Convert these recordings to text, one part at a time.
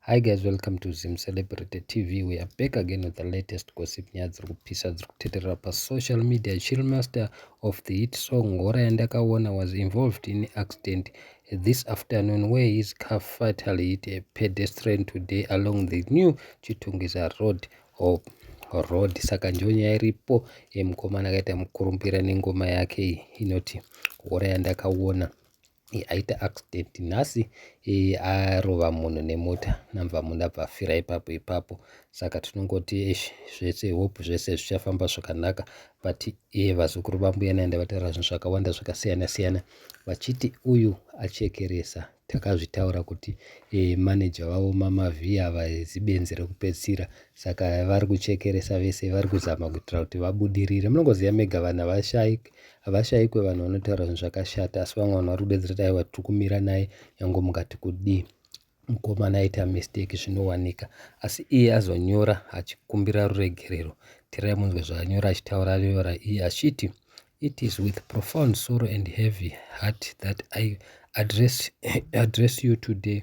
Hi guys welcome to Zim Celebrity TV we are back again with the latest gossip nyaya dziri kupisa dziri kuteterera pasocial media chillmaster of the hit song ngora yandakaona was involved in accident this afternoon where his car fatally hit a pedestrian today along the new chitungwiza road of road saka ndiyo nyaya iripo yemukomana akaita mukurumbira nengoma yake inoti ngora yandakaona aita accident nhasi arova munhu nemota namva munhu abva afira ipapo ipapo saka tinongoti ish zvese hope zvese zvichafamba zvakanaka but iye vazukuru vambuya naenda vataura zvinhu zvakawanda zvakasiyana siyana vachiti uyu achekeresa takazvitaura kuti e, manager vavo mamavhiya vazibenzi rekupedzisira saka vari kuchekeresa vese vari kuzama kuitira kuti vabudirire munongoziva mega vana vashaik Havashaikwe vanhu vanotaura zvinhu zvakashata asi vamwe vanhu vari kudedzera kuti aiwa tiri kumira naye nyange mukati kudii mukomana aita mistake zvinowanika asi iye azonyora achikumbira ruregerero tirai munzwe zvaanyora achitaura anyora iye achiti it is with profound sorrow and heavy heart that i address, address you today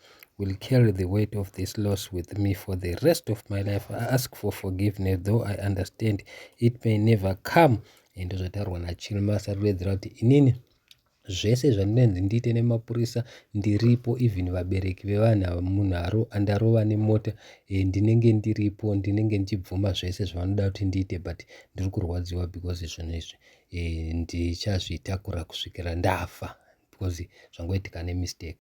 will carry the weight of this loss with me for the rest of my life i ask for forgiveness though i understand it may never come ende zvataurwa nachilmasa riredzera kuti inini zvese zvandinenzi ndiite nemapurisa ndiripo even vabereki vevanhu ava munhu andarova nemota e, ndinenge ndiripo ndinenge ndichibvuma zvese zvavanoda kuti ndiite but ndiri kurwadziwa because zvinhu izvi e, ndichazvitakura kusvikira ndafa because zvangoitika nemistake